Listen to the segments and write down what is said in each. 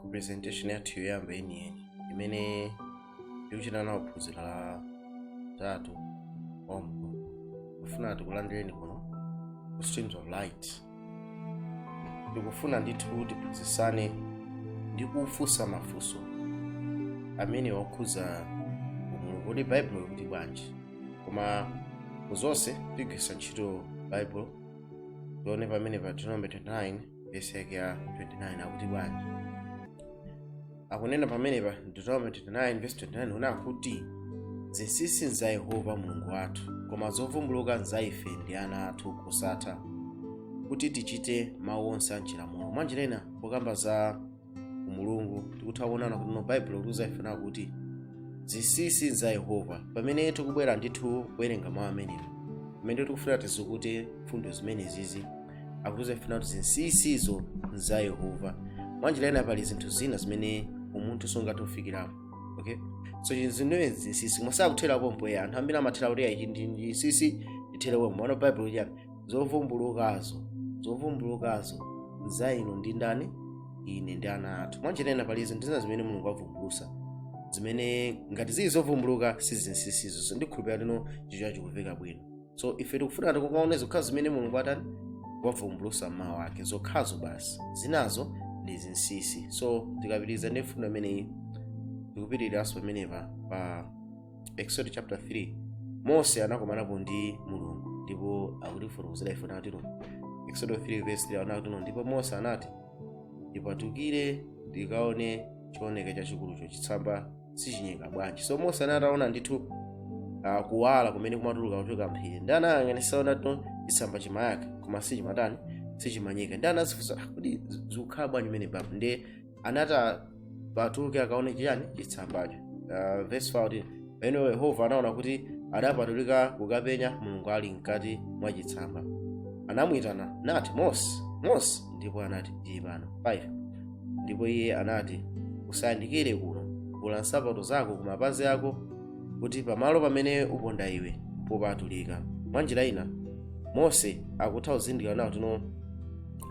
ku presentation yathu yoyamba yeniyeni imene tikuchita nawo phunziro la tatu omwe kufuna tikulandireni kuno ku streams of light tikufuna ndithu kuti tiphunzitsane ndi kufunsa mafunso amene okhuza umulungu kuti baibulo likuti bwanji koma ku zonse tigwiritsa ntchito baibulo tione pamene pa deuteronomy 29 vesi yake ya 29 akuti bwanji akunena pamenepa deuteronomy 29 vesi 29 akunena kuti zinsinsi nza yehova mulungu wathu koma zovumbuluka nza ife ndi ana athu kosatha kuti tichite mawu onse a chilamulo mwanjira ina pokamba za umulungu tikutha kuonana kuti no baibulo likutiuza ife nawo kuti zinsinsi za yehova pamene tikubwera ndithu kuwerenga mawu amenewa pamene tikufuna tizukute mfundo zimenezizi akutiuza ife nawo kuti zinsinsizo za yehova mwanjira ina pali zinthu zina zimene umunthu sungathe kufikirapo okay so chinthu zimene zinsinsi koma sakuthera pompo anthu ambiri amathera kuti ayi ndi zinsinsi ndithere pompo koma baibulo chiyani zovumbulukazo zovumbulukazo za inu ndi ndani ine ndi ana athu mwanjira ina pali zinthu zina zimene mulungu avumbulusa zimenezo ngati zili zovumbuluka si zinsinsi so ndikhulupirira kuti no chichocho chikumveka bwino so ife tikufuna tikaone zokhazo zimene mulungu atani wavumbulusa mmawu ake zokhazo basi zinazo ndi zinsinsi so tikapitiriza ndi mfundo imeneyi tikupitiriranso pamenepa pa exodo chapter 3 mose anakomanapo ndi mulungu ndipo akutifotokozera ife nati no exodo 3 verse 3 anati no ndipo mose anati ndipatukire ndikaone chooneka chachikulucho chitsamba sichinyeka bwanji so mose anataona ndithu uh, kuwala kumene kumatuluka kuchoka m'phiri ndi anayang'anitsa naona kuti chitsamba chimayaka koma sichimatani sichimanyeka ndi anazifunsa "Ah, kodi zikukhala bwanji mene baba ndi anati apatuke akaone chiyani chitsambacho uh, verse 14 pamenepo yehova anaona kuti adapatulika kukapenya mulungu ali mkati mwa chitsamba anamwitana nati mose mose ndipo anati ndili pano 5 ndipo iye anati usayandikire kuno vula nsapato zako ku mapazi ako kuti pamalo pamene upondapo iwe popatulika mwanjira ina mose akutha kuzindikira nawo kuti no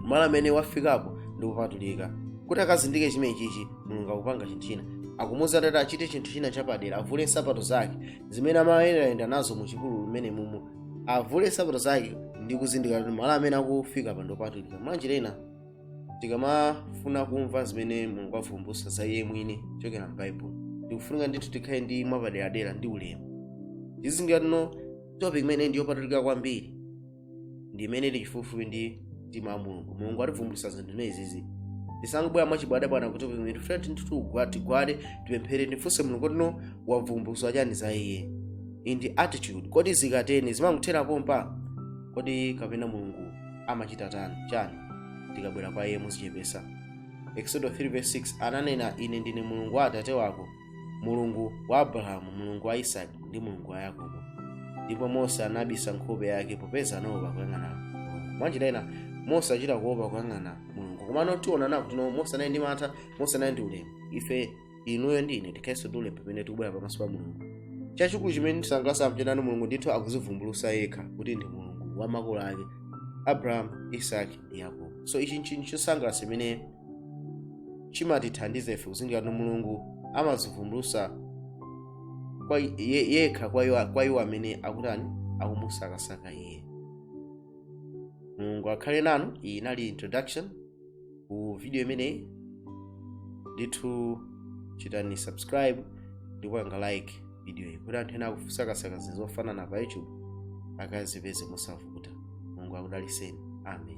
malo amene wafikapo ndi opatulika kuti akazindikire chimenechichi mulungu akupanga chinthu china akumuuza kuti achite chinthu china chapadera avule nsapato zake zimene amayendaenda nazo mu chipululu mmenemumu avule nsapato zake ndi kuzindikira kuti malo amene akufikapa ndopatulika mwanjira ina tikamafuna kumva zimene mulungu avumbutsa za iye mwini kuchokera m'baibulo tikufunika ndithu tikhale ndi mwapaderadera ndi ulemu tizindikire kuti no topic imeneyi ndi yopatulika kwambiri ndi imene ili chifupifupi ndi mtima wa mulungu mulungu ativumbulutsa zinthu zimene izizi tisangobwera mwachibwadabwana kuti pamene tifuna tinthu tigwade tipemphere timfunse mulungu kuti no wavumbulutsa chani za iye ndi attitude kodi zikatero zimangothera pompa kodi kapena mulungu amachita tani chani tikabwera kwa iye muzichepesa exodo 3:6 ananena ine ndine mulungu wa atate wako mulungu wa abrahamu mulungu wa isaki ndi mulungu wa yakobo ndipo mose anabisa nkhope yake popeza anaopa kuyang'ana mulungu mwanjira ina mose achita kuopa kuyang'ana mulungu komano tionana kuti no mose anali ndi mantha mose anali ndi ulemu ife inuyo ndi ine tikhalenso ndi ulemu pamene tikubwera pamaso pa mulungu chachikulu chimene tisangalasa nchani mulungu ndithu akuzivumbulusa yekha kuti ndi mulungu wa makolo ake abrahamu isaki ndi yakobo so ichi nchinthu chosangalasa imene chimatithandiza ife kuzindikira kuti mulungu amazivumbulusa kwa i- ye- yekha kwa iwo- kwa iwo amene akutani akumusakasaka iye mulungu akhale nanu iyi inali introduction ku video imeneyi ndithu chitani subscribe ndi kupanga like video iyi kuti anthu ena akusakasaka zinthu zofanana pa youtube akazipeze mosavuta mulungu akudaliseni amen